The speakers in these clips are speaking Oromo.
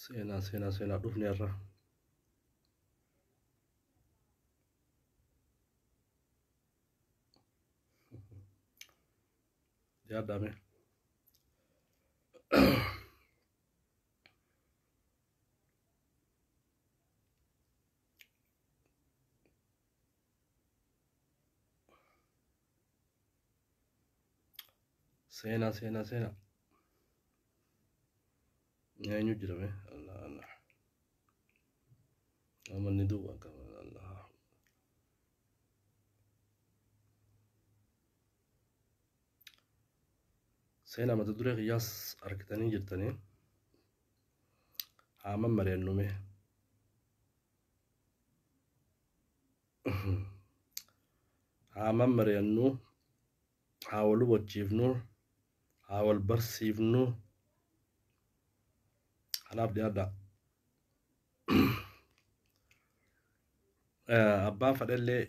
Seenaa seenaa seenaa dhufne irra. Yaadame. Sena sena sena. Nyanyu jirame. Allah Allah. Ama ni duba kama Allah. Sena mata dure qiyas arkitani jirtani. Hama mariannume. haa mammari'annu haa wal hubachiifnu haa wal barsiifnu kanaaf dhiyaadha abbaan fadhellee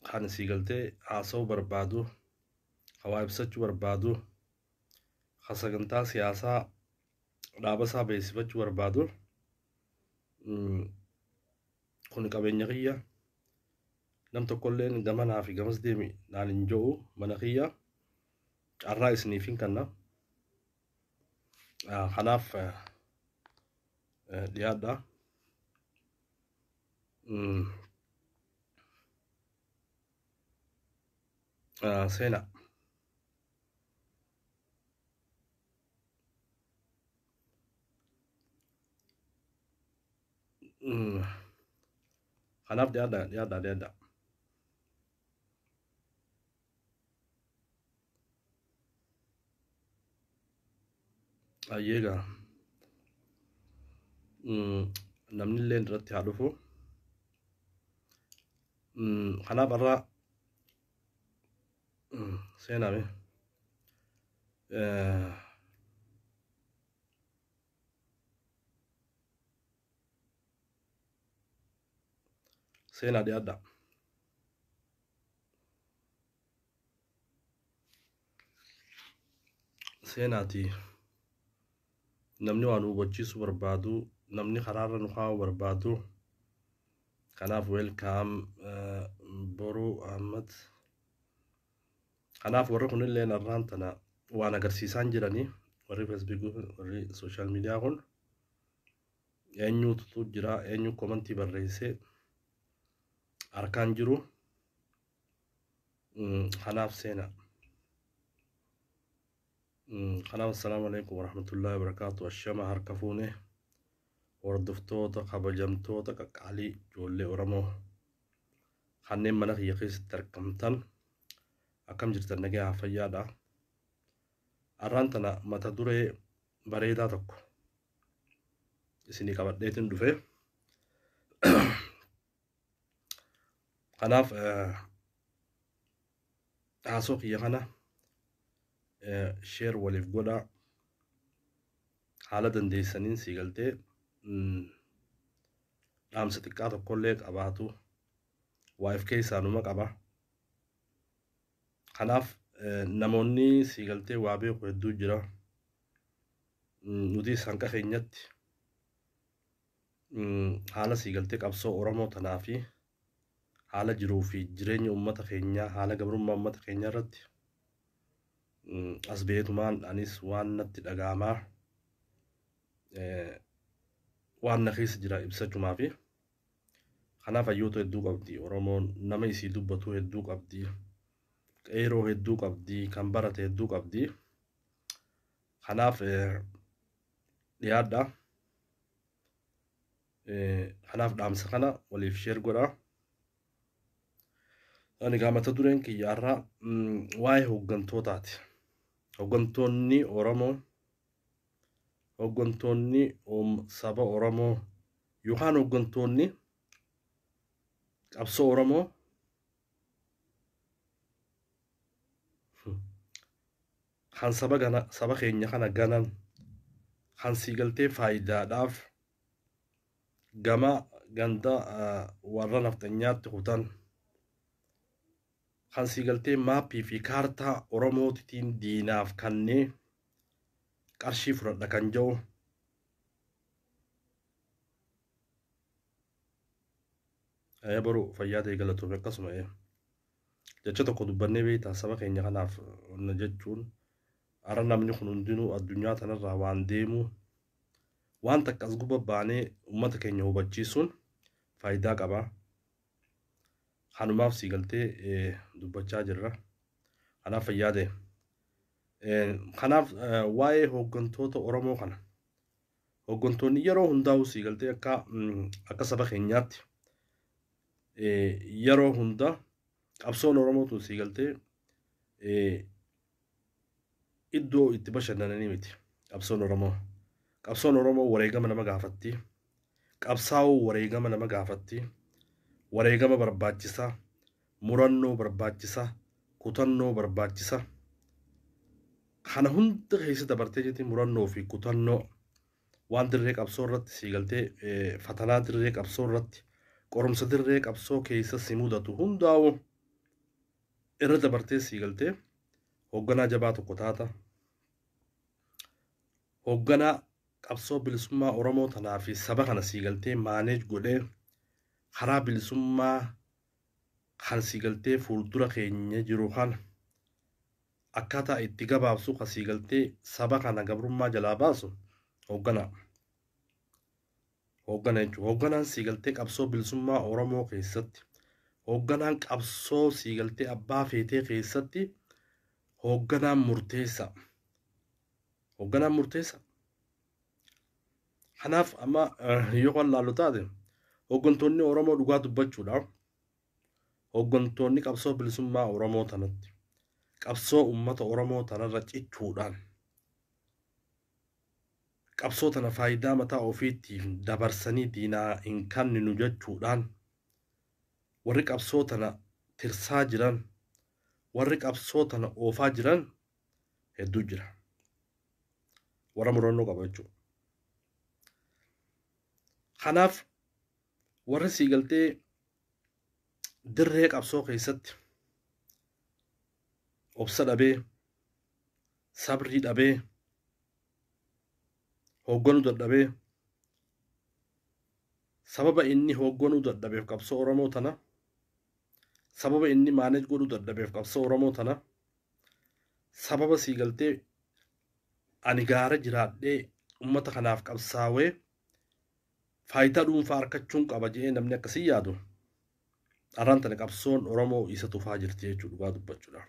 kan sii galtee haasa'uu barbaadu hawaa ibsachuu barbaadu kan sagantaa siyaasaa dhaabasaa beeksifachuu barbaadu Kun qabeenya kiyya. Nam tokkolleen gamanaa fi gamas deemi naan hin jo'u mana kiyya. Carraa isiniif hin kanna. Ah, Kanaaf eh, eh, dhiyaadha. Mm, ah, Seenaa. Kanaaf dhiyaadha dhiyaadha dhiyaadha. Ayyee gaa. Namni illee irratti haa dhufu. Kanaaf har'a seenaame. seenaa dhiyaadhaa. Seenaati namni waan hubachiisu barbaadu namni karaarra nu kaa'u barbaadu kanaaf weelkaam boruu ahmad Kanaaf warri kunilleen har'aan tana waan agarsiisaan jiranii warri feesbuukii fi warri sooshaal miidiyaa kun eenyuutu jira eenyu komantii barreessee harkaan jiru kanaaf seena. Kanaaf assalaamu alaikum warahmatullahi wabarakaatu ashama harka fuune hordoftoota kabajamtoota qaqqaalii ijoollee Oromoo. kanneen mana kiyya keessatti argamtan akkam jirtan nagayaa fayyaadha. Arraan tana mata duree bareedaa tokko isinii qabadheetin dhufe. Kanaaf haasoo kiyya kana sheer waliif godhaa haala dandeessaniin sii galtee dhaamsa xiqqaa tokkollee qabaatu waa if keessaa numa qaba. Kanaaf namoonni sii galtee waa beeku hedduu jira. Nutis hanqa keenyatti haala sii galtee qabsoo Oromoo tanaa fi haala jiruu fi jireenya uummata keenyaa haala gabrummaa uummata keenyaa irratti as beetumaan anis waan natti dhagaamaa waan na keessa jira ibsachumaa fi kanaaf hayyoota hedduu qabdi oromoon nama isii dubbatu hedduu qabdi qeeroo hedduu qabdi kan barate hedduu qabdi kanaaf dhiyaadha kanaaf dhaamsa kana waliif sheer godha ani gaa mata dureen kiyyaarraa waa'ee hooggantootaati hooggantoonni oromoo Hoggantoonni saba Oromoo yookaan hoggantoonni qabsoo Oromoo kan saba gana saba keenya kana ganan kan sii galtee faayidaadhaaf gama ganda warra nafxanyaatti kutan kan sii galtee maappii fi kaartaa Oromootiin diinaaf kannee qarshii fudhadha kan jedhu ee boru fayyaa ta'e galatoome akkasuma ee jecha tokko dubbannee beektaa saba keenya kanaaf na jechuun ara namni kun hundinuu addunyaa tanarraa waan deemuu waan takka as gubba baanee uummata keenya hubachiisuun faayidaa qaba kanumaaf sii galtee ee, dubbachaa jirra kanaaf fayyaa ta'e Kanaaf waa'ee hooggantoota Oromoo kana hooggantoonni yeroo hundaa'u sii galtee akka akka saba keenyaatti yeroo hunda qabsoon Oromoo tun sii galtee iddoo itti bashannananii miti qabsoon Oromoo. Qabsoon Oromoo wareegama nama gaafatti. Qabsaa'uu wareegama nama gaafatti. Wareegama barbaachisaa. Murannoo barbaachisa, kutannoo barbaachisa. Kana hunda keessa dabartee jetti murannoo fi kutannoo waan dirree qabsoo irratti sii galtee fatanaa dirree qabsoo irratti qorumsa dirree qabsoo keessa si mudatu hundaa'u irra dabartee sii galtee hoogganaa jabaa tokko taata. Hoogganaa qabsoo bilisummaa Oromoo tanaa fi saba kana sii galtee maaneej godhee karaa bilisummaa kan sii galtee fuuldura keenya jiru kana akkaataa itti gabaabsu kan sii galtee saba kana gabrummaa jalaa baasu hoogganaa. Hooggana jechuun hoogganaan sii galtee qabsoo bilisummaa Oromoo keessatti hoogganaan qabsoo sii galtee abbaa feetee keessatti hoogganaan murteessaa. Hoogganaan murteessaa. Kanaaf amma yoo kan laallu taate hooggantoonni Oromoo dhugaa dubbachuudhaaf hooggantoonni qabsoo bilisummaa Oromoo tanatti qabsoo uummata Oromoo tanarra cichuudhaan qabsoo tana faayidaa mataa ofiitiif dabarsanii diinaa hin kanninu jechuudhaan warri qabsoo tana tirsaa jiran warri qabsoo tana oofaa jiran hedduu jira. Warra murannoo qabu jechuudha. Kanaaf warri sii galtee dirree qabsoo keessatti obsa dhabee sabrii dhabee hoogganuu dadhabee sababa inni hoogganuu dadhabeef qabsoo Oromoo tana sababa inni manage godhu dadhabeef qabsoo oromoo tana sababa sii galtee ani gaara jiraadhee ummata kanaaf qabsaawee faayidaa dhuunfaa arkachuun qaba jedhee namni akkasii yaadu arraan tana qabsoon oromoo isa tufaa jirti jechuu dhugaa dubbachuudha.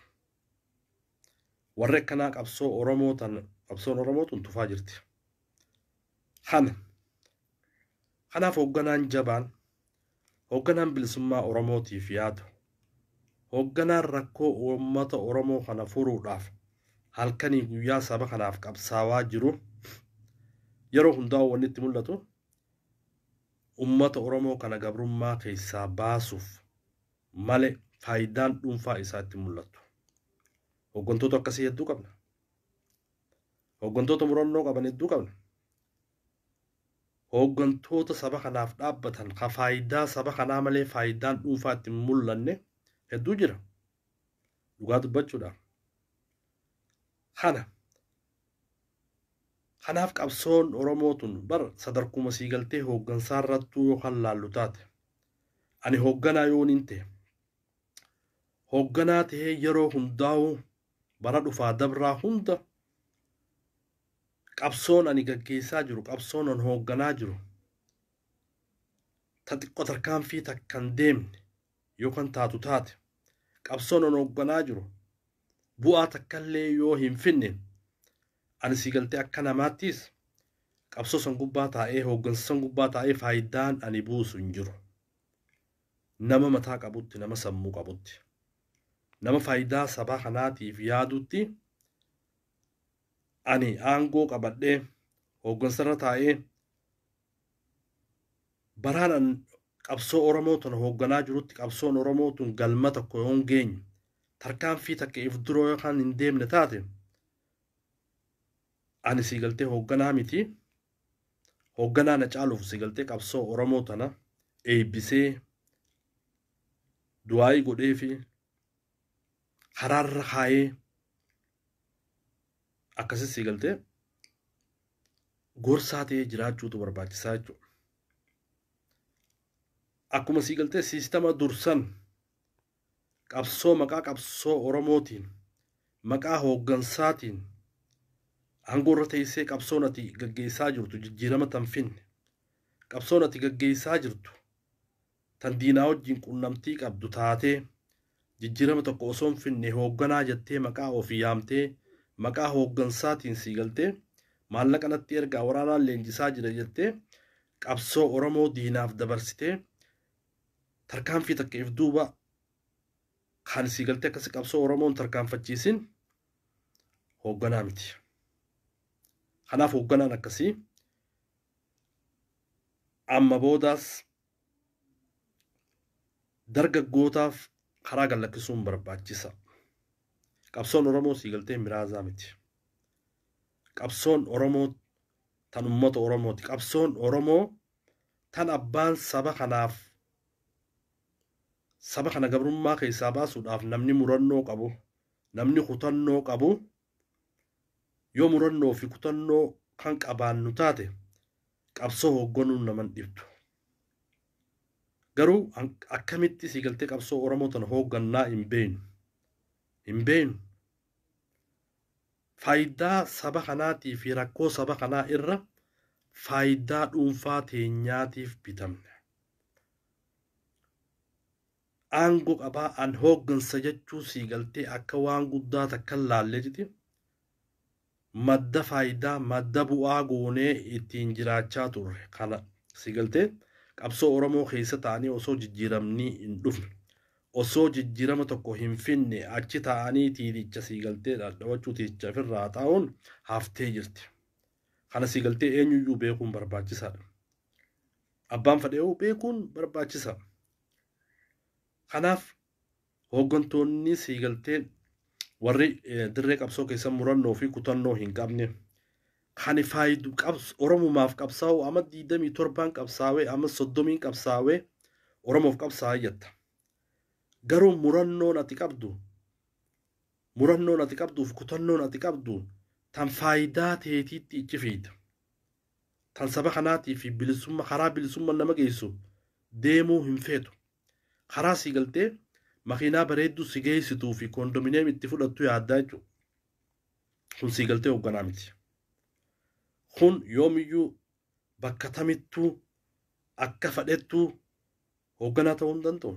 Warri akkanaa qabsoo Oromoo tan qabsoon Oromoo tun tufaa jirti. Kana kanaaf hoogganaan jabaan hoogganaan bilisummaa Oromootiif yaadu hoogganaan rakkoo uummata Oromoo kana furuudhaaf halkanii guyyaa saba kanaaf qabsaawaa jiru yeroo hundaa wanni itti mul'atu uummata Oromoo kana gabrummaa keessaa baasuuf male faayidaan dhuunfaa isaa itti mul'attu. Hooggantoota akkasii hedduu qabna. Hooggantoota murannoo qaban hedduu qabna. Hooggantoota saba kanaaf dhaabbatan ka faayidaa saba kanaa malee faayidaan dhuunfaa itti hin mul'anne hedduu jira. Dhugaa dubbachuudhaaf. Kana kanaaf qabsoon Oromoo tun bar sadarkuma sii galtee hooggansaa irrattuu yoo kan laallu taate Ani hoogganaa yooniin ta'e. Hoogganaa ta'ee yeroo hundaa'uu bara dhufaa dabraa hunda qabsoon ani gaggeessaa jiru qabsoon an hoogganaa jiru ta xiqqoo tarkaanfii takkan deemne yookaan taatu taate qabsoon an hoogganaa jiru bu'aa takkallee yoo hin finne Ani sii galtee akka namaattiis qabsoo san gubbaa taa'ee hooggansa san gubbaa taa'ee faaydaan ani buusu hin jiru. Nama mataa qabutti nama sammuu qabutti nama faaydaa sabaa kanaatiif yaadutti ani aangoo qabadhee hooggansarra taa'ee baraan an qabsoo Oromoo tana hoogganaa jirutti qabsoon Oromoo tun galma tokko yoon geenye tarkaanfii takka if dura yookaan hin deemne taate ani sii galtee hoogganaa miti hoogganaa na caaluuf sii galtee qabsoo oromoo tana eebbisee du'aayii godhee fi karaarra kaayee akkasii sii galtee gorsaa ta'ee jiraachuutu barbaachisaa jechuudha. Akkuma sii galtee siistama dursan Qabsoo maqaa qabsoo Oromootiin, maqaa hooggansaatiin aangoorra teessee qabsoon ati gaggeessaa jirtu jijjiirama tan finne, qabsoon ati gaggeessaa jirtu tan diinaa wajjin qunnamtii qabdu taatee jijjiirama tokko osoo hin finne hoogganaa jettee maqaa ofii yaamtee maqaa hooggansaatiin sii galtee maallaqa natti ergaa waraanaan leenjisaa jira jettee qabsoo Oromoo diinaaf dabarsitee tarkaanfii takka if duuba kaan isii galtee akkasi qabsoo Oromoon tarkaanfachiisin hoogganaa miti. Kanaaf hoogganaan akkasii amma boodaas dargaggootaaf karaa gallakkisuun barbaachisa. Qabsoon Oromoo sii galtee miraazaa miti. Qabsoon Oromoo tan uummata Oromooti. Qabsoon Oromoo tan abbaan saba kanaaf saba kana gabrummaa keessaa baasuudhaaf namni murannoo qabu, namni kutannoo qabu yoo murannoo fi kutannoo kan qabaannu taate qabsoo hoogganuun naman dhibdu. Garuu akkamitti sii galtee qabsoo Oromoo tana hooggannaa hin beeynu. Hin beeynu. Faayidaa saba kanaatii fi rakkoo saba kanaa irra faayidaa dhuunfaa teenyaatiif bitamne. Aango qabaa an hooggansa jechuu sii galtee akka waan guddaa takkan laalleetiti madda faayidaa, madda bu'aa goonee ittiin jiraachaa turre kana si galtee qabsoo Oromoo keessa taa'anii osoo jijjiiramni hin dhufne, osoo jijjiirama tokko hin finne achi taa'anii tiiticha si galtee dhadhawachuu tiiticha ofirraa haxaa'uun haftee jirti. Kana si galtee eenyuyyuu beekuun barbaachisaadha. Abbaan fadhee'uu beekuun barbaachisaa. Kanaaf Hooggantoonni siigaltee warri dirree qabsoo keessa murannoo fi kutannoo hin qabne kan faayidu Oromumaaf qabsaa'u amma 27 qabsaawee amma 30 qabsaawee Oromoof qabsaa'aa jatta. Garuu murannoon ati qabdu murannoon ati qabduuf kutannoon ati qabdu tan faayidaa teetiitti ichi fiida. Tan saba kanaatii fi bilisummaa karaa bilisummaa nama geessu deemuu hin feetu. Karaa sii galtee makiinaa bareedduu si geessituu fi koondomineem itti fudhattu yaaddaa jechuudha. Kun sii galtee hoogganaa miti. Kun yoomiyyuu bakka tamittuu akka fadhettuu hoogganaa ta'uu hin danda'u.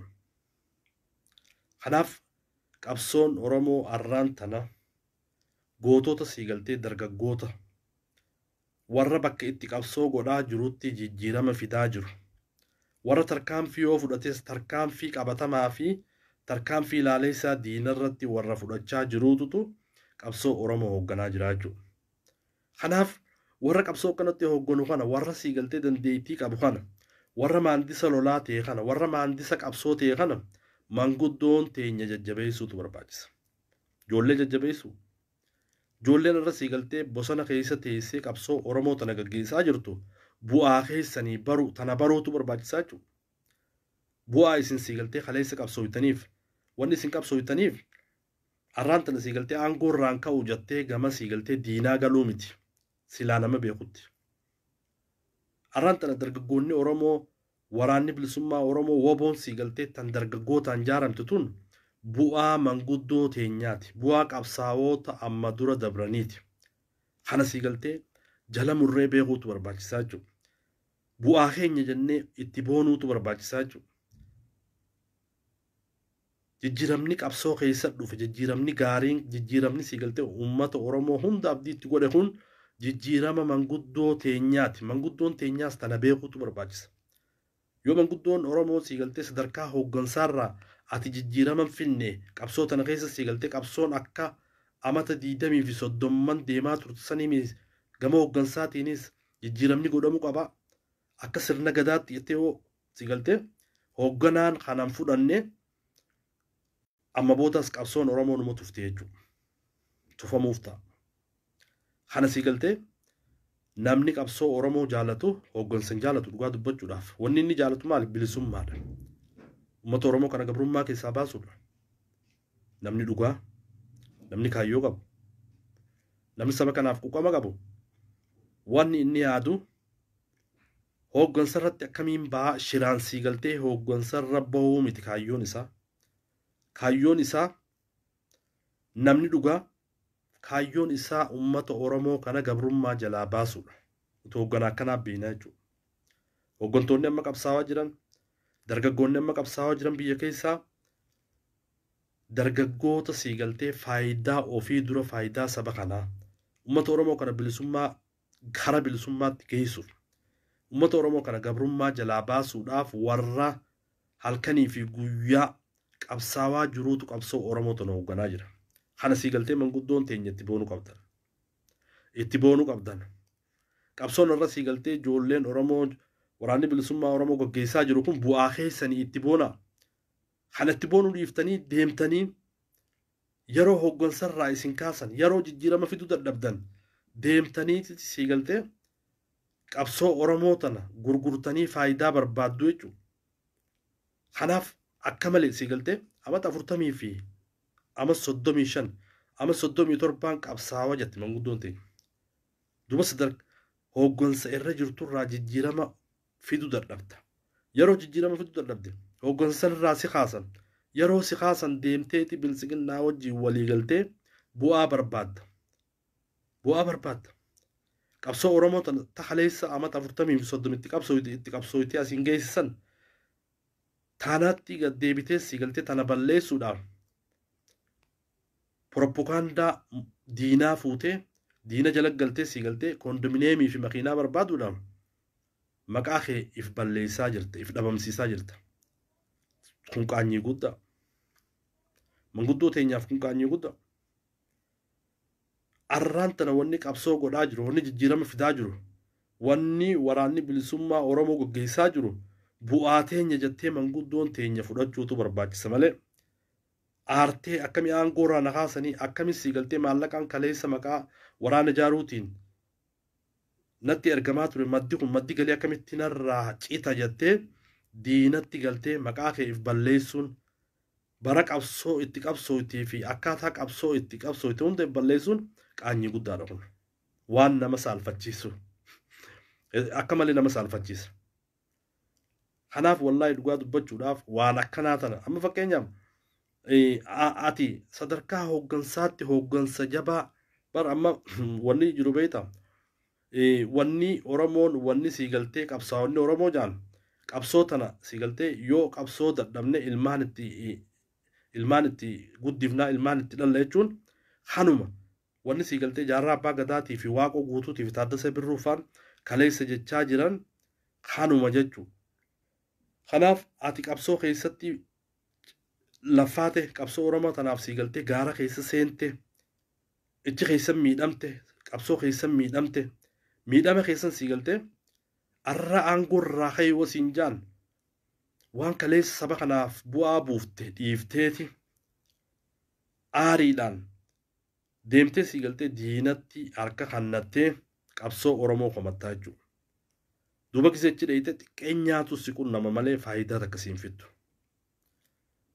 Kanaaf qabsoon Oromoo arraan tana gootota sii galtee dargaggoota warra bakka itti qabsoo godhaa jirutti jijjiirama fidaa jiru. Warra tarkaanfii yoo fudhates tarkaanfii qabatamaa fi tarkaanfii laaleessaa diinarratti warra fudhachaa jiruututu qabsoo Oromoo hoogganaa jira jechuudha. Kanaaf warra qabsoo akkanatti hoogganu kana, warra siigaltee dandeettii qabu kana, warra maandisa lolaa ta'e kana, warra maandisa qabsoo ta'e kana manguddoon teenya jajjabeessuutu barbaachisa. Ijoollee jajjabeessuu. Ijoolleen arra sii galtee bosana keessa teessee qabsoo Oromoo tana gaggeessaa jirtu bu'aa keessanii baruu tana baruutu barbaachisaa jechuudha. Bu'aa isin sii galtee kaleessa qabsooytaniif wanni isin qabsooytaniif arraan tana sii galtee aangoo irraan ka'u jattee gama sii galtee diinaa galuu miti silaa nama beekutti. Arraan tana dargaggoonni Oromoo Waraanni Bilisummaa Oromoo, WBOn sii galteettan dargaggootaan jaaramte tun bu'aa manguddoo teenyaati, bu'aa qabsaawoota amma dura dabraniiti. Kana sii galtee jala murree beekuutu barbaachisaa jechuudha. Bu'aa keenya jennee itti boonuutu barbaachisaa jechuudha. Jijjiramni qabsoo keessa dhufe, jijjiramni gaariin, jijjiramni siigaltee uummata Oromoo hunda abdii itti godhe kun jijjirama manguddoo teenyaati. Manguddoon teenyaas tana beekuutu barbaachisa. Yoo manguddoon Oromoo siigaltee sadarkaa hooggansaarraa ati jijjirama hin finne, qabsoo tana keessa siigaltee qabsoon akka amata 20 fi 30n deemaa turte sanii miti, gama hooggansaatiinis jijjiramni godhamu qaba. Akka sirna Gadaatti jettee yoo si galtee hoogganaan kanan fudhanne amma boodas qabsoon oromoo numa tufte jechuudha tufamuuf ta'a kana si galtee namni qabsoo oromoo jaalatu hooggansa hin jaalatu dhugaa dubbachuudhaaf wanni inni jaalatu maali bilisummaadha uummata oromoo kana gabrummaa keessaa baasuudha namni dhugaa namni kaayyoo qabu namni saba kanaaf quqama qabu wanni inni yaadu Hooggansa irratti akkamiin baha? Shiraan sii galtee hooggansa irra bahuu miti kaayyoon isaa. Kaayyoon isaa namni dhugaa kaayyoon isaa uummata Oromoo kana gabrummaa jalaa baasuudha. Utuu hoogganaa akkanaa beeknaa jechuudha. Hooggantoonni amma qabsaawaa jiran, dargaggoonni amma qabsaawaa jiran biyya keessaa dargaggoota sii galtee faayidaa ofii dura faayidaa saba kanaa uummata Oromoo kana bilisummaa gara bilisummaatti geessuuf ummata Oromoo kana gabrummaa jalaa baasuudhaaf warra halkanii fi guyyaa qabsaawaa jiruutu qabsoo Oromoo tana hoogganaa jira. Kana sii galtee manguddoon teenya itti boonu qabdan. Itti boonu qabdan. Qabsoon irra sii galtee ijoolleen Oromoo waraanni bilisummaa Oromoo gaggeessaa jiru kun bu'aa keessanii itti boona. Kana itti boonuu dhiiftanii deemtanii Yaroo hoggansarraa isin kaasan, yaroo jijjiirama fiduu dadhabdan deemtaniiti sii galtee qabsoo Oromoo tana gurgurtanii faayidaa barbaaddu jechuudha. Kanaaf akka malee sii galtee amata 40 fi amas 35 amas 37n qabsaawa jette manguddoon teenya. Duuba sadarkaa hoggansa irra jirturraa jijjiirama fidu dadhabda. Yeroo jijjiirama fidu dadhabde hooggansa sanirraa si kaasan. Yeroo si kaasan deemteeti biltsiginnaa wajjin walii galtee bu'aa barbaadda. Bu'aa barbaadda. Qabsoo Oromoo tan ta kaleessa amata 40 fi 30 itti qabsooyte itti qabsooytee asiin geesse san taanaatti gad deebitee si galtee tana balleessuudhaaf poroppokaandaa diinaa fuutee diina jala galtee si galtee kondominiyeemii fi makiinaa barbaaduudhaaf maqaa kee if balleessaa jirta if dhabamsiisaa jirta kun qaanyii guddaa manguddoo teenyaaf kun qaanyii guddaa arraan tana wanni qabsoo godhaa jiru wanni jijjiirama fidaa jiru wanni waraanni bilisummaa oromoo gaggeessaa jiru bu'aa teenya jettee manguddoon teenya fudhachuutu barbaachisa malee aartee akkami aangoo irraa na kaasanii akkami sii galtee maallaqaan kaleessa maqaa waraana jaaruutiin natti ergamaa ture maddi kun maddi galii akkamitti narraa cita jattee diinatti galtee maqaa kee if balleessuun bara qabsoo itti qabsooytii fi akkaataa qabsoo itti qabsooyte hunda if balleessuun qaanyii guddaadha kun waan nama saalfachiisu akka malee nama saalfachiisa. Kanaaf wallaahi dhugaa dubbachuudhaaf waan akkanaa tana amma fakkeenyaaf eh, a- ati sadarkaa hooggansaatti hooggansa jabaa bar amma wanni jiru beektaa Eh, wanni Oromoon wanni sii galtee qabsaa'onni Oromoo jaan qabsoo tana sii galtee yoo qabsoo dadhabne ilmaan itti eh, ilmaan itti guddifnaa ilmaan itti dhalla jechuun kanuma Wanni sii galtee Jaarraa Abbaa Gadaatii fi Waaqoo Guutuutii fi Taaddasee Birruu faan kaleessa jechaa jiran kanuma jechu. Kanaaf ati qabsoo keessatti laffaate, qabsoo Oromoo tanaaf sii galtee gaara keessa seente, ichi keessan miidhamte, qabsoo keessan miidhamte, miidhama keessan sii galtee arra aangoo irraa ka'ii wa siin jaan waan kaleessa saba kanaaf bu'aa buufte dhiifteeti aariidhaan Deemtee sii galtee diinatti harka kannattee qabsoo Oromoo komattaa jechuu. Duuba gisee achi dheeyxee xiqqeenyaatu si qunnama malee faayidaa takka siin fiddu.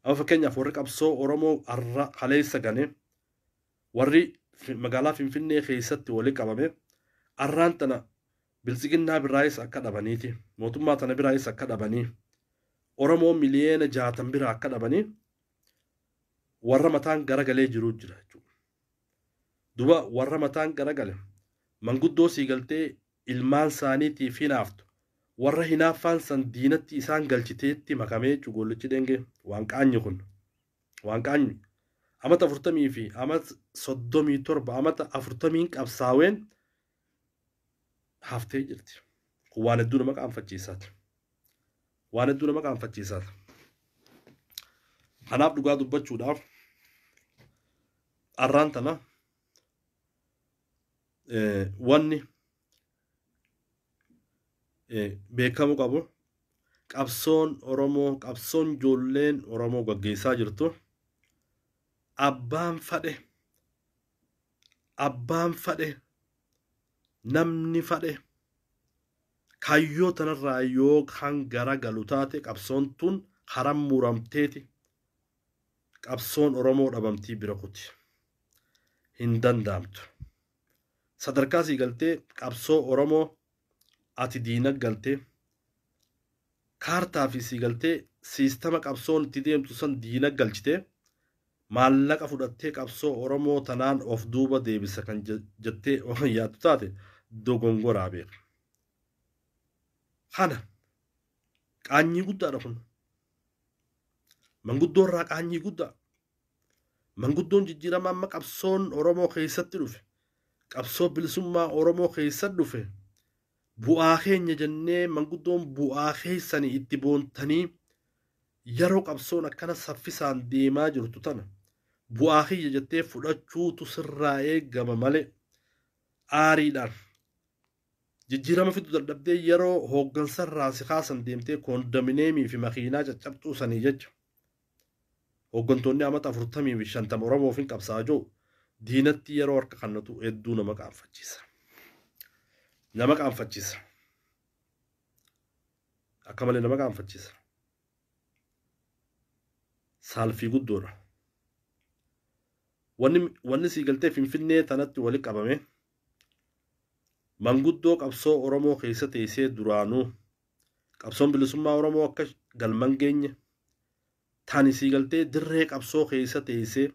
Amma fakkeenyaaf warri qabsoo Oromoo har'a kaleessa gane warri magaalaa Finfinnee keessatti wali qabame har'aan tana biltsiginnaa biraayis akka dhabaniiti mootummaa tana biraayis akka dhabanii Oromoo miliyeena jaatan biraa akka dhabanii warra mataan garagalee jiruu jira jechuudha. Duba warra mataan garagale manguddoo sii galtee ilmaan saaniitiif hinaaftu warra hinaaffaan san diinatti isaan galchiteetti makamee jechuu goollichi dhengee waan qaanyi kun waan qaanyi amata afurtamii fi amata soddomii torba amata afurtamiin qabsaaween haftee jirti. Kun waan hedduu nama qaanfachiisaati. Waan hedduu nama qaanfachiisaati. Kanaaf dhugaa dubbachuudhaaf arraan tana wanni beekamu qabu qabsoon Oromoo qabsoon ijoolleen Oromoo gaggeessaa jirtu abbaan fadhe abbaan fadhe namni fadhe kaayyoo tanarraa yoo kan gara galu taate qabsoon tun haram muramteeti qabsoon oromoo dhabamtii bira kuti hin danda'amtu sadarkaa sii galtee qabsoo oromoo ati diina galtee Kaartaa fi siigaltee siistama qabsoon itti deemtu san diina galchite, maallaqa fudhattee qabsoo Oromoo tanaan of duuba deebisa kan jettee waan yaaddu taate dogongoraa beeka. Kana qaanyii guddaadha kun. Manguddoo irraa qaanyii guddaa. Manguddoon jijjiirama amma qabsoon Oromoo keessatti dhufe, qabsoo bilisummaa Oromoo keessa dhufe, Bu'aa keenya jennee manguddoon bu'aa keessani itti boontanii yeroo qabsoon akkana saffisaan deemaa jirtu tana bu'aa kiyya jettee fudhachuutu sirraa eegama malee aariidhaan jijjiirama fidu dadhabdee yeroo hooggansarraa si kaasan deemtee koondomineemii fi makiinaa caccabxuu sanii jecha Hooggantoonni amata 40 fi 50 Oromoof hin qabsaa'a jedhu diinatti yeroo harka kannatu hedduu nama qaanfachiisa. Nama qaanfachiisa. Akka malee nama qaanfachiisa. Saalfii guddoodha. Wanni wanni sii galtee Finfinnee tanatti wali qabame manguddoo qabsoo Oromoo keessa teessee duraanuu Qabsoon bilisummaa Oromoo akka galman geenye tani sii galtee dirree qabsoo keessa teessee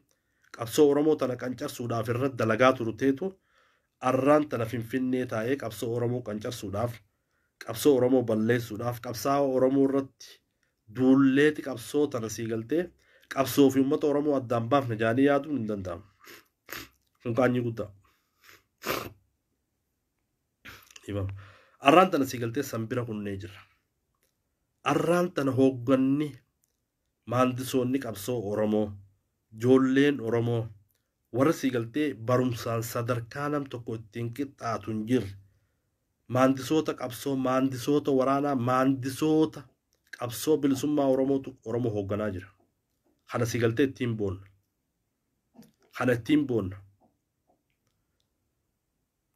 qabsoo Oromoo tana qancarsuudhaaf irra dalagaa turteetu arraan tana finfinnee taa'ee qabsoo Oromoo qancarsuudhaaf qabsoo Oromoo balleessuudhaaf qabsaa'aa Oromoo irratti duulleeti qabsoo tana sii galtee qabsoo fi uummata Oromoo addaan baafna jaanii yaaduun hin danda'amu. Kun qaanyii guddaa. Dhiifama. Arraan tana si galtee san bira kunnee jirra. Arraan tana hoogganni maandisoonni qabsoo Oromoo, joolleen Oromoo, warra si galtee barumsaan sadarkaa nam tokko ittiin qixxaatu hin jirre. Maandisoota qabsoo, maandisoota waraanaa, maandisoota qabsoo bilisummaa Oromootu Oromoo hoogganaa jira. Kana si galtee ittiin boonna. Kana ittiin boonna.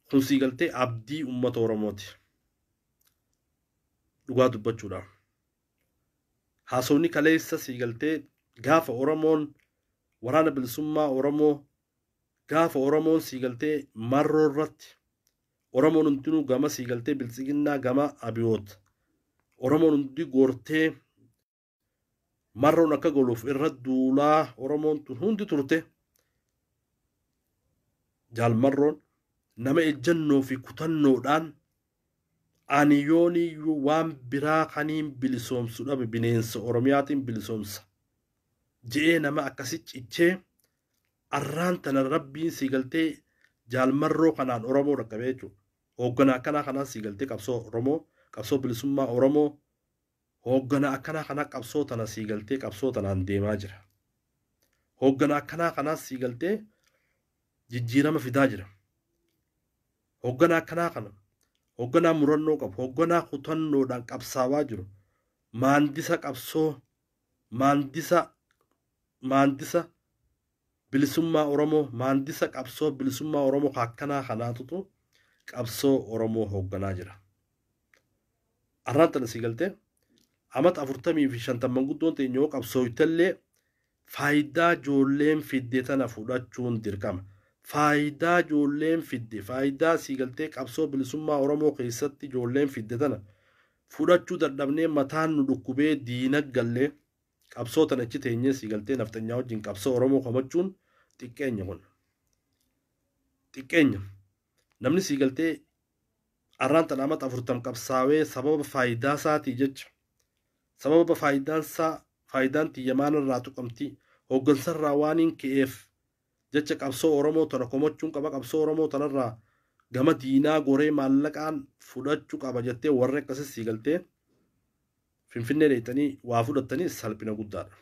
kun sii galtee abdii ummata oromooti dhugaa dubbachuudha haasawni kaleessa sii galtee gaafa oromoon waraana bilisummaa oromoo gaafa oromoon sii galtee marroo irratti oromoon hundinuu gama sii galtee biltsiginnaa gama abiyoot oromoon hundi goortee marroon akka goluuf irra duulaa oromoon tun hundi turte jaal marroon nama ejjannoo fi kutannoodhaan ani yooniyyuu waan biraa kaniin bilisoomsu dhabe bineensa oromiyaatiin bilisoomsa je'ee nama akkasi cichee arraan tana rabbiin sii galtee jaal marroo kanaan oromoo dhaqqabee jechuudha. Hooggana akkanaa kanaan sii galtee qabsoo oromoo qabsoo bilisummaa oromoo Hooggana akkanaa kana qabsoo tana sii galtee qabsoo tanaan deemaa jira. Hooggana akkanaa kanaas sii galtee jijjiirama fidaa jira. Hooggana akkanaa kana hoogganaa murannoo qabu, hoogganaa kutannoodhaan qabsaawaa jiru, maandisa qabsoo, maandisa maandisa Bilisummaa Oromoo maandisa qabsoo bilisummaa Oromoo ka akkanaa kanaatutu qabsoo Oromoo hoogganaa jira. Arraan tana sii galtee amata afurtamii fi shantan manguddoon teenya yoo qabsooytellee faayidaa joolleen fidde tana fudhachuun dirqama. Faayidaa joolleen fidde faayidaa sii galtee qabsoo bilisummaa Oromoo keessatti joolleen fidde tana fudhachuu dadhabnee mataan nu dhukkubee diina gallee Qabsoo tan achi teenyee sii galtee nafxanyaa wajjin qabsoo Oromoo komachuun xiqqeenya kun. Xiqqeenya. Namni sii galtee arraan tan amata afurtam qabsaawee sababa faayidaa isaatii jecha sababa faayidaan isaa faayidaan tiyya maanarraa tuqamti hooggansarraa waaniin ka'eef jecha qabsoo Oromoo tana komachuun qaba qabsoo Oromoo tanarraa gama diinaa goree maallaqaan fudhachuu qaba jettee warri akkasii sii galtee Finfinnee dhayxanii waa fudhattanii salphina guddaadha.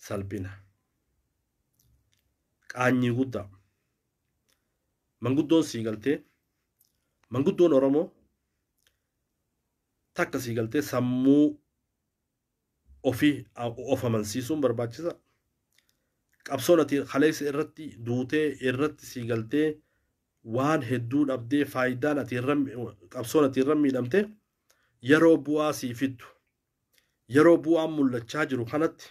Salphina. Qaanyii guddaa. Manguddoon sii galtee manguddoon Oromoo takka sii galtee sammuu ofii of amansiisuun barbaachisa. Qabsoon ati kaleessa irratti duutee irratti sii galtee waan hedduu dhabdee faayidaan ati irra qabsoon ati irra miidhamte yeroo bu'aa sii fiddu yeroo bu'aan mul'achaa jiru kanatti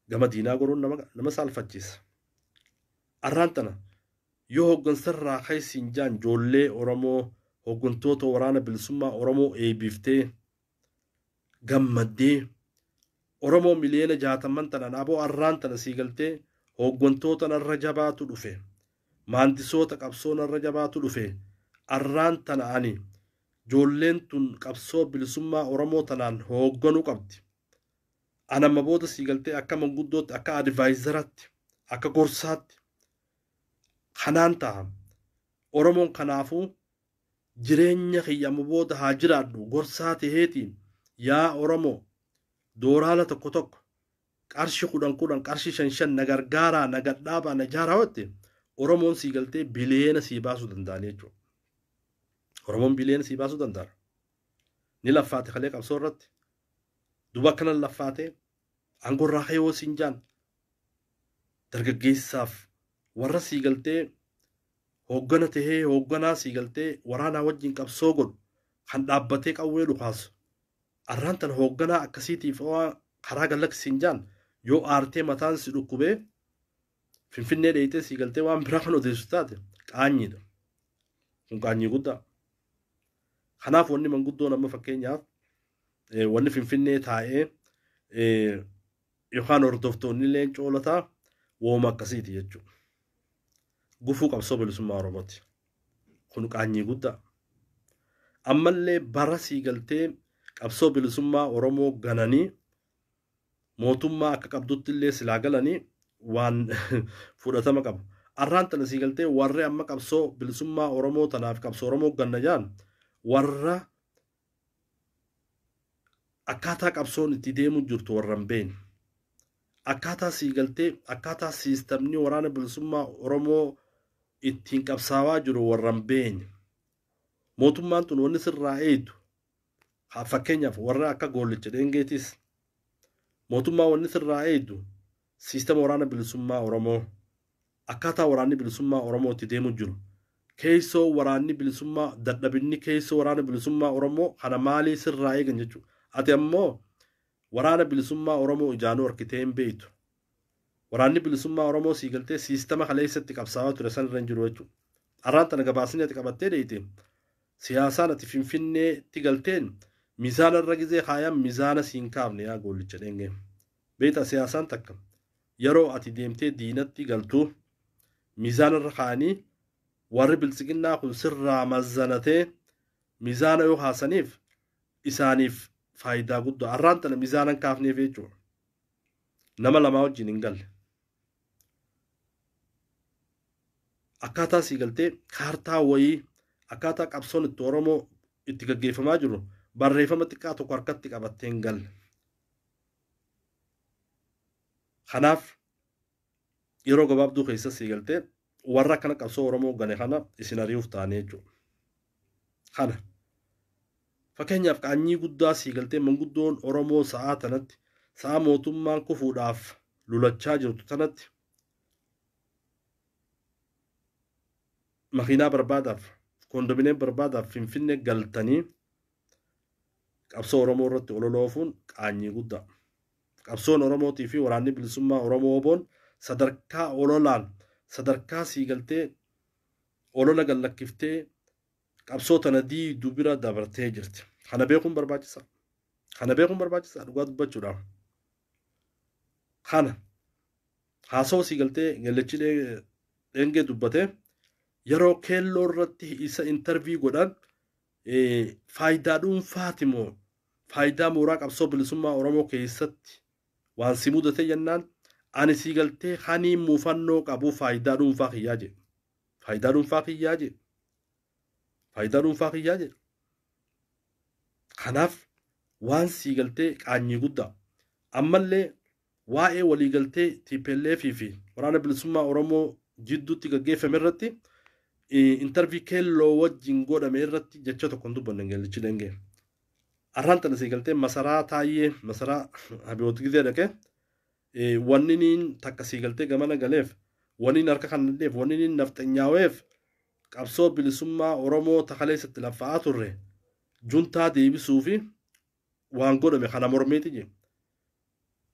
gama diinaa goruun nama nama saalfachiisa. Arraan tana yoo hoggansarraa keessi hin jaan joollee Oromoo hoggantoota waraana bilisummaa Oromoo eebiftee gammaddee Oromoo miliyoona jaatamman tanan aboo arraan tana sii galtee hooggantoota narra jabaatu dhufe maandisoota qabsoo narra jabaatu dhufe arraan tana ani joolleen tun qabsoo bilisummaa Oromoo tanaan hoogganuu qabdi an amma booda sii galtee akka manguddootti akka adivaayizaratti akka gorsaatti kanaan ta'a Oromoon kanaafuu Jireenya kiyya amma booda haa jiraadhu gorsaa teheetiin yaa oromoo dooraala tokko tokko qarshi kudhan kudhan qarshi shan shan na gargaaraa na gadhaabaa na jaaraa hotte oromoon sii galtee biliyeena sii baasuu danda'anii jechuu oromoon biliyeena sii baasuu danda'ara ni laffaate kalee qabsoo irratti duba akkanan laffaate aangorraa ka'ee hoo siin jaan dargaggeessaaf warra sii galtee hooggana tahee hoogganaa sii galtee waraanaa wajjin qabsoo godhu kan dhaabbatee qawwee dhukaasu arraan tan hoogganaa akkasiitiif waa karaa gallaksiin jaan yoo aartee mataan si dhukkubee finfinnee dheeyxee sii galtee waan biraa kan odeessu taate qaanyiidha kun qaanyii guddaa kanaaf wanni manguddoon amma fakkeenyaaf wanni finfinnee taa'ee yookaan hordoftoonni illee coolataa wooma akkasiiti jechuudha. Gufuu qabsoo bilisummaa Oromooti. Kun qaanyii guddaa. Ammallee bara sii galtee qabsoo bilisummaa Oromoo gananii mootummaa akka qabdutti illee silaa galanii waan fudhatama qaba. Arraan tana sii galtee warri amma qabsoo bilisummaa Oromoo tanaaf qabsoo Oromoo ganna jaan warra akkaataa qabsoon itti deemu jirtu warra hin beekne akkaataa sii galtee akkaataa siistamni waraana bilisummaa Oromoo ittiin qabsaawaa jiru warra hin beekne mootummaan tun wanni sirraa eeytu fakkeenyaaf warra akka goollicha dheengeetis mootummaa wanni sirraa eeytu Siistama Waraana Bilisummaa Oromoo Akkaataa Waraanni Bilisummaa Oromoo itti deemu jiru Keeysoo Waraanni Bilisummaa Dadhabinni Keeysoo Waraana Bilisummaa Oromoo kana maalii sirraa eegan jechuu Ati ammoo Waraana Bilisummaa Oromoo ijaanuu arkitee hin beeytu Waraanni Bilisummaa Oromoo sii galtee siistama kaleeysa itti qabsaawaa ture san irra hin jiru jechuu Arraan tana gabaasni ati qabattee deeyte Siyaasaan ati Finfinnee tti galteen Mizaana irra gizee kaayan Mizaana siin kaafne yaa goollicha dheengee Beektaa siyaasaan takka yeroo ati deemtee diinatti galtu miizaana irra kaa'anii warri biltsiginnaa kun sirraa mazzanatee miizaana yoo kaasaniif isaaniif faayidaa guddaa arraan tana miizaana hin kaafneef jechuudha. Nama lamaa wajjin hin galle. Akkaataa sii galtee kaartaa wayii akkaataa qabsoon itti Oromoo itti gaggeeffamaa jiru barreeffama xiqqaa tokko harkatti qabattee hin galle. Kanaaf yeroo gabaabduu keessa sii galtee warra akkana qabsoo Oromoo gane kana isin ari'uuf taane jechuudha. Kana fakkeenyaaf qaanyii guddaa sii galtee manguddoon Oromoo sa'aa tanatti sa'aa mootummaan kufuudhaaf lulachaa jirtu tanatti makiinaa barbaadaaf kondominiyeem barbaadaaf finfinnee galtanii Qabsoo Oromoo irratti olola oofuun qaanyii guddaa. Qabsoon Oromootii fi waraanni bilisummaa Oromoo Oboon sadarkaa ololaan sadarkaa sii galtee olola gallakkiftee qabsoo tana diidu bira dabartee jirti. Kana beekuun barbaachisa. Kana beekuun barbaachisa dhugaa dubbachuudhaaf. Kana haasoo sii galtee gallechi dheengee dubbatee yeroo keelloo irratti isa intarvii godhan Faayidaa dhuunfaati moo faayidaa mooraa qabsoo bilisummaa Oromoo keessatti waan si mudate jennaan ani sii galtee kanii muufannoo qabu faayidaa dhuunfaa kiyyaa jedhe. Faayidaa dhuunfaa kiyyaa jedhe. Faayidaa dhuunfaa kiyyaa jedhe. Kanaaf waan sii galtee qaanyii guddaa. Ammallee Waa'ee waliigaltee tplf fi Waraana Bilisummaa Oromoo jidduutti gaggeeffame irratti intervii Keelloo wajjin godhame irratti jecha tokko hin dubbanne Ingeellichi Dengee. Arraan tana sii galtee masaraa taayyee masaraa Abiyoot Gizee dhaqee wanniniin takka sii galtee gamana galeef wanniin harka kan nadheef wanniniin nafxanyaaweef qabsoo bilisummaa Oromoo takaleessatti laffa'aa turre juntaa deebisuu fi waan godhame kana mormiiti je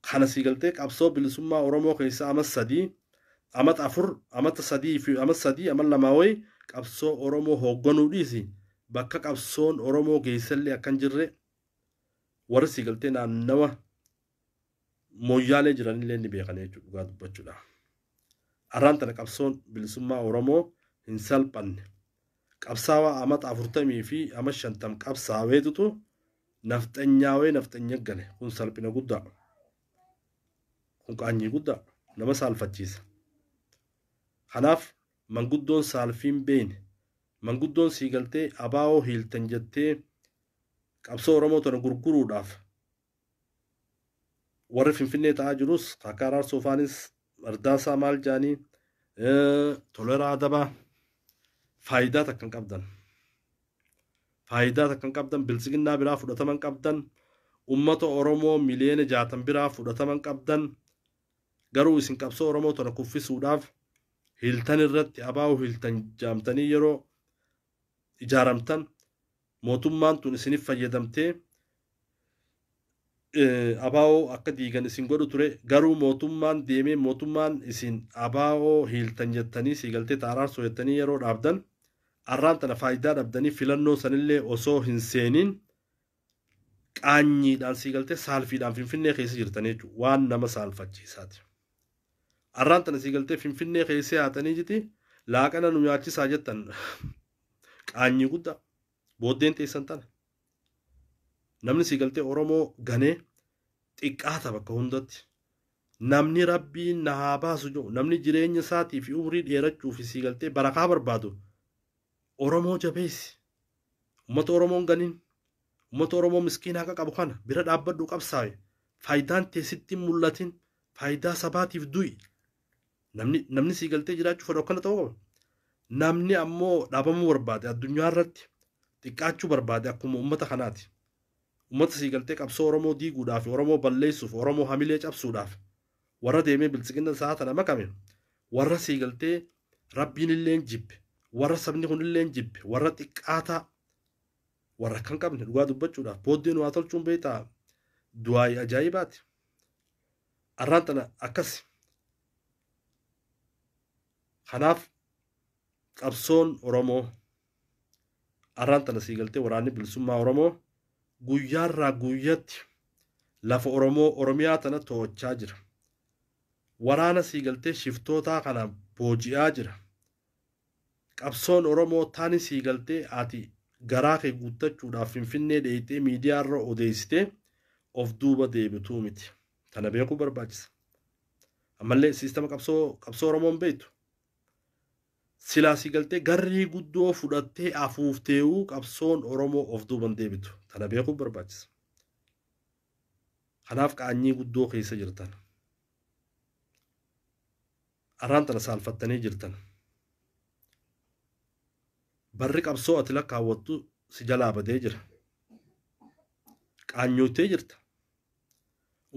kana sii galtee qabsoo bilisummaa oromoo keessa amat sadii amat afur amat sadii fi amat sadii amat lamaa wayi qabsoo oromoo hoogganuu dhiisi bakka qabsoon oromoo geessallee akkan jirre warri sii galtee naannawa Mooyyaalee jiranillee ni beekana jechuudha dhugaa dubbachuudhaaf. Arraan tana qabsoon bilisummaa Oromoo hin salphanne. Qabsaawaa amata afurtamii fi ama shantam qabsaaweetutu nafxanyaawee nafxanya gale. Kun salphina guddaa. Kun qaanyii guddaa. Nama saalfachiisa. Kanaaf manguddoon saalfiin beeyne. Manguddoon sii galtee abaawoo hiiltan jettee qabsoo Oromoo tana gurguruudhaaf warri Finfinnee ta'aa jirus akka Araarsoo faanis Ardaasaa maal jaanii Toleraa Adabaa faayidaa takka hin qabdan. Faayidaa takka hin qabdan bilisiginnaa biraa fudhatama hin qabdan. Uummata Oromoo miliyoona jaatan biraa fudhatama hin qabdan. Garuu isin qabsoo Oromoo tana kuffisuudhaaf hiltan irratti abaa'uu hiltan jaamtanii yeroo ijaaramtan mootummaan tun isinif fayyadamtee abaa'oo akka diigan isin godhu ture garuu mootummaan deemee mootummaan isin abaa'oo hiiltan jettanii sii galtee ta araarsoo jettanii yeroo dhaabdan arraan tana faayidaa dhabdanii filannoo sanillee osoo hin seeniin qaanyiidhaan sii galtee saalfiidhaan finfinnee keessa jirtanii jechuudha. Waan nama saalfachiisaati. Arraan tana sii galtee finfinnee keessa yaatanii jiti laaqana nu nyaachisaa jettan qaanyii guddaa booddeen teessan tana. Namni sii galtee Oromoo ganee xiqqaata bakka hundatti. Namni rabbiin na haa baasu jedhu namni jireenya isaatii fi umrii dheerachuu fi sii galtee barakaa barbaadu Oromoo jabeessi. Ummata Oromoo hin ganin. Ummata Oromoo miskiina haqa qabu kana bira dhaabbadhu qabsaawi. Faayidaan tee sitti hin mul'atin. Faayidaa sabaatiif du'i. Namni namni sii galtee jiraachuu fedhu akkana ta'uu qaba. Namni ammoo dhaabamuu barbaade addunyaa irratti xiqqaachuu barbaade akkuma ummata kanaati. Ummata sii galtee qabsoo Oromoo diiguudhaaf, Oromoo balleessuuf, Oromoo hamilee cabsuudhaaf warra deemee biltsiginnan sa'a tana makame warra sii galtee rabbiin illeen jibbe warra sabni kun illeen jibbe warra xiqqaataa warra kan qabne dhugaa dubbachuudhaaf booddee nu haa tolchuun beektaa du'aayi ajaa'ibaati arraan tana akkasi kanaaf qabsoon oromoo arraan tana sii galtee waraanni bilisummaa Oromoo guyyaarraa guyyatti lafa Oromoo Oromiyaa tana to'achaa jira. Waraana sii galtee shiftootaa kana booji'aa jira. Qabsoon Oromoo tani sii galtee ati garaa kee guuttachuudhaaf finfinnee dheeyxee miidiyaa irra odeessitee of duuba deebituu miti. Tana beekuu barbaachisa. Ammallee siistama qabsoo qabsoo Oromoon beektu. Silaa si galtee garrii guddoo fudhattee afuuftee'uu qabsoon Oromoo of duuba hin deebitu. Tana beekuun barbaachisa. Kanaaf qaanyii guddoo keessa jirtan. Arraan tana saalfattanii jirtan. Barri qabsoo ati lakkaawwattu si jalaa badee jira. Qaanyooytee jirta.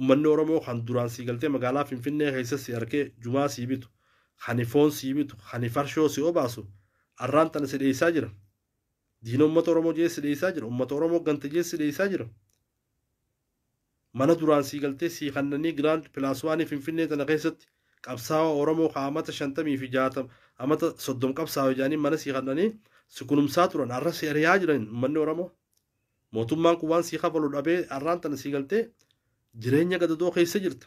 Ummanni Oromoo kan duraan sii galtee magaalaa Finfinnee keessa si arkee jumaa sii bitu, kani foon sii bitu, kani farshoo si obaasu arraan tana si dheessaa jira. Diina ummata Oromoo jedhee si dheessaa jira. Ummata Oromoo gante jedhee si dheessaa jira. Mana duraan sii galtee sii kannanii Giraand Pilaaswaanii Finfinnee tana keessatti qabsaawaa Oromoo ka amata shantamii fi jaatam amata soddom qabsaawe jedhanii mana sii kannanii si kunumsaa turan arra si ariyaa jiran ummanni Oromoo. Mootummaan kun waan sii kafalu dhabee arraan tana sii galtee jireenya gadadoo keessa jirta.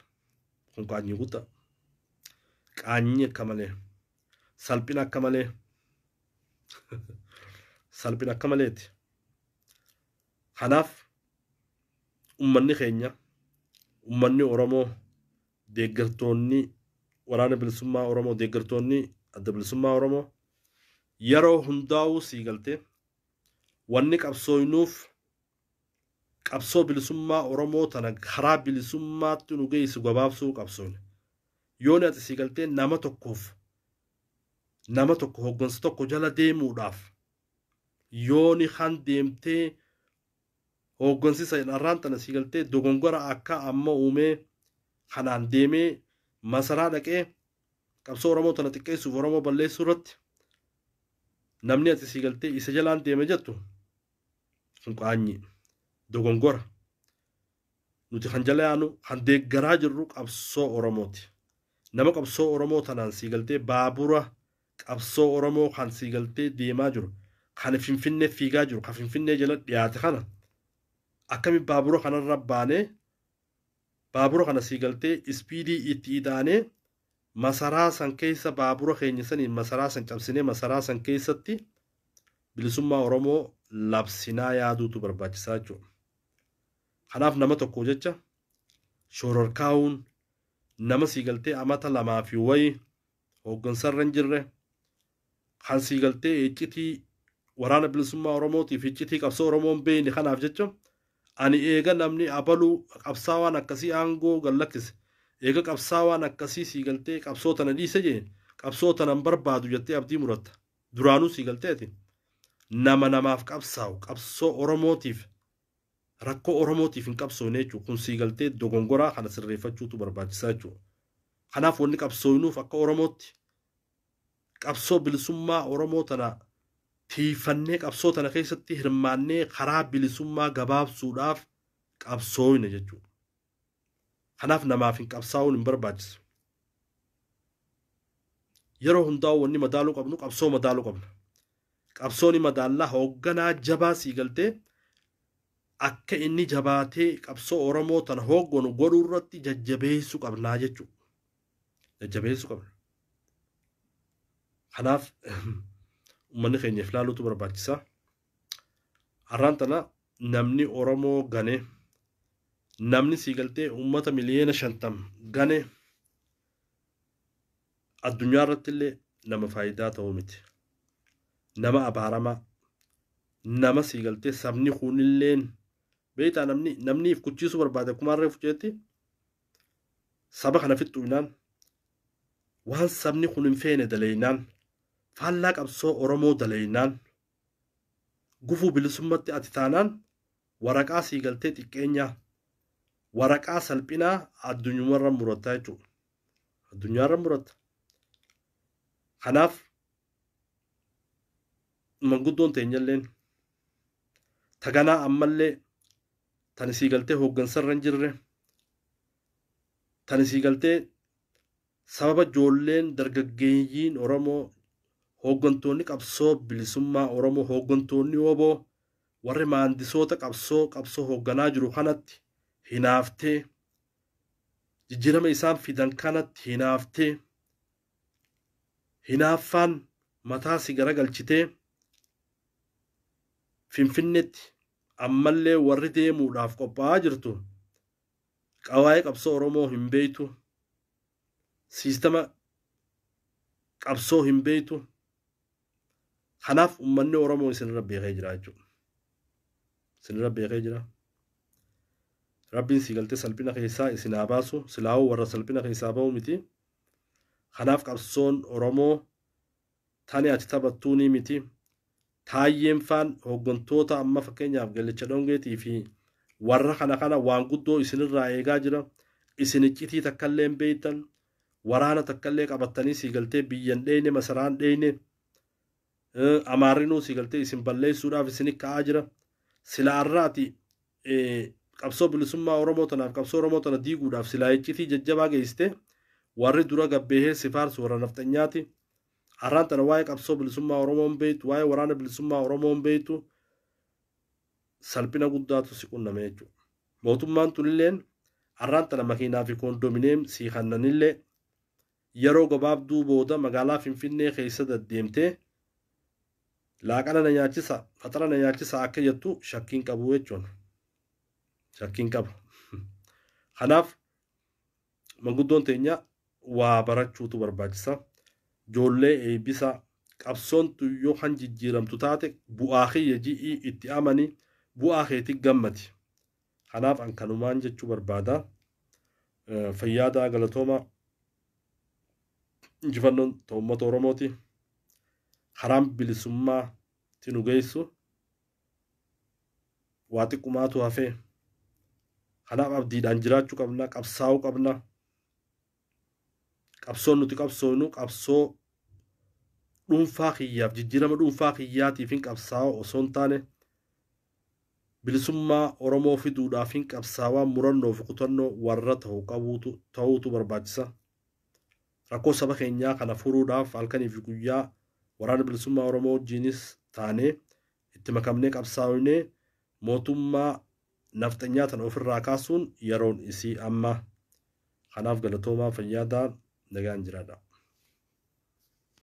Kun qaanyii guddaa. Qaanyii akka malee. Salphina akka malee. Salphina akka maleeti. Kanaaf ummanni keenya ummanni Oromoo deeggartoonni waraana bilisummaa Oromoo deeggartoonni adda bilisummaa Oromoo yeroo hundaa'uu sii galtee Wanni qabsooynuuf qabsoo bilisummaa Oromoo tana karaa bilisummaatti nu geeysu gabaabsuu qabsooyna. Yooni ati sii galtee nama tokkoof nama tokko hoggansa tokko jala deemuudhaaf yooni kan deemtee hooggansisa dharraan tana sii galtee dogongora akka amma uumee kanaan deemee masaraa dhaqee qabsoo Oromoo tana xiqqeessuuf Oromoo balleessuu irratti namni ati sii galtee isa jalaan deeme jettu kun qaanyii dogongora nuti kan jala yaanu kan deeggaraa jirru qabsoo Oromooti. Nama qabsoo Oromoo tanaan sii galtee baabura qabsoo Oromoo kan sii galtee deemaa jiru kan Finfinnee fiigaa jiru kan Finfinnee jala dhiyaate kana akkami baabura kanarra baanee Baabura kana sii galtee ispiidii itti ida'anee masaraa san keessa baabura keenya saniin masaraa san cabsinee masaraa san keessatti bilisummaa Oromoo labsinaa yaaduutu barbaachisaa jechuudha. Kanaaf nama tokko jecha shoororkaa'uun nama sii galtee amata lamaa fi wayi hooggansarra hin jirre, kan sii galtee iccitii waraana bilisummaa Oromootiif iccitii qabsoo Oromoo hin beekne kanaaf jecha ani eega namni abaluu qabsaawaan akkasii aangoo gad lakkise eega qabsaawaan akkasii sii galtee qabsoo tana dhiise jee qabsoo tana hin barbaadu jettee abdii muratta duraanuu sii galtee ati nama namaaf qabsaawu qabsoo Oromootiif rakkoo Oromootiif hin qabsoofne jechuudha. Kun sii galtee dogongoraa kana sirreeffachuutu barbaachisaa jechuudha. Kanaaf wanni qabsoofnuuf akka Oromootti qabsoo bilisummaa Oromoo tana tiifannee qabsoo tana keessatti hirmaannee karaa bilisummaa gabaabsuudhaaf qabsoofne jechuudha. Kanaaf namaaf hin qabsaa'uun hin barbaachisu. Yeroo hundaa'u wanni madaaluu qabnu qabsoo madaaluu qabna. Qabsoo ni madaallaa hoogganaa jabaa sii galtee akka inni jabaatee qabsoo Oromoo tana hoogganu godhuu irratti jajjabeessuu qabnaa jechuudha. Jajjabeessuu qabna. Kanaaf uummanni keenya if laaluutu barbaachisa. Har'aan tana namni Oromoo gane namni sii galtee uummata miliyoona shantam gane addunyaa irratti illee nama faayidaa ta'uu miti. Nama abaaramaa nama sii galtee sabni kun illeen beektaa namni namni if kuchiisuu barbaade akkuma harree fuceetti saba kana fixxuinaan waan sabni kun hin feene daleeynaan faallaa qabsoo Oromoo daleeynaan Gufuu bilisummatti ati taanaan waraqaa sii galtee xiqqeenyaa, waraqaa salphinaa addunyumarra muratta jechuudha. Addunyaarra muratta. Kanaaf manguddoon teenyalleen taganaa ammallee tan isii galtee hooggansarra hin jirre tan isii galtee Sababa joolleen dargaggeeyyiin Oromoo, hooggantoonni qabsoo bilisummaa Oromoo, hooggantoonni wbo, warri maandisoota qabsoo qabsoo hoogganaa jiru kanatti hinaaftee, jijjiirama isaan fidan kanatti hinaaftee, hinaaffaan mataa si garagalchitee, Finfinnetti ammallee warri deemuudhaaf qophaa'aa jirtu qawaa'ee qabsoo Oromoo hin beektu, siistama qabsoo hin beektu. Kanaaf uummanni Oromoo isinirra beekee jira jechuudha. Isinirra beekee jira. Rabbiin si galtee salphina keessaa isin haa baasu. Silaawoo warra salphina keessaa bahu miti. Kanaaf qabsoon Oromoo Tani ati taphattuunii miti. Taayyeen faan hoggantoota amma fakkeenyaaf Gallicha Dhongeetii fi warra kana kana waan guddoo isinirraa eegaa jira. Isin iccitii takkallee hin beektan. Waraana takkallee qabattanii sii galtee biyyan dheeyne masaraan dheeyne. Amaarrinuu sii galtee isin balleessuudhaaf isin ka'aa jira. Sila arraati qabsoo bilisummaa Oromoo tanaaf qabsoo Oromoo tana diiguudhaaf silaa iccitii jajjabaa geessite warri dura gabbeehee si faarsu warra nafxanyaati. Har'aan tana waa'ee qabsoo bilisummaa Oromoo hin beektu, waa'ee waraana bilisummaa Oromoo hin beektu salphina guddaatu si qunname jechuudha. Mootummaan tunilleen har'aan tana makiinaa fi koondomineem sii kannanillee Yeroo gabaabduu booda magaalaa Finfinnee keessa daddeemtee laaqana na nyaachisa, faxara na nyaachisa akka jettu shakkii hin qabu jechuun. Shakkii hin qabu. Kanaaf manguddoon teenya waa barachuutu barbaachisa. Joollee eebbisa. Qabsoon tun yoo kan jijjiiramtu taate bu'aa kiyya ji'ii itti amani, bu'aa keetii gammadi. Kanaaf an kanumaan jechuu barbaada. Fayyaa ta'a galatoomaa. Injifannoon ta uummata Oromooti. Karaan bilisummaa ti nu geessu. Waa xiqqumaatu hafee. Kanaaf abdiidhaan jiraachuu qabna, qabsaa'uu qabna. qabsoon nuti qabsoonu qabsoo dhuunfaa kiyyaaf jijjiirama dhuunfaa kiyyaatiif hin qabsaa'aa osoo hin taane bilisummaa Oromoo fiduudhaaf hin qabsaawaa murannoo fi kutannoo warra ta'u qabuutu ta'uutu barbaachisa. Rakkoo saba keenyaa kana furuudhaaf halkanii fi guyyaa waraana bilisummaa Oromoo wajjinis taanee itti makamnee qabsaa'inee Mootummaa nafxanyaa tana ofirraa kaasuun yeroon isii amma. Kanaaf galatoomaa fayyaadaa nagaan jiraadhaa.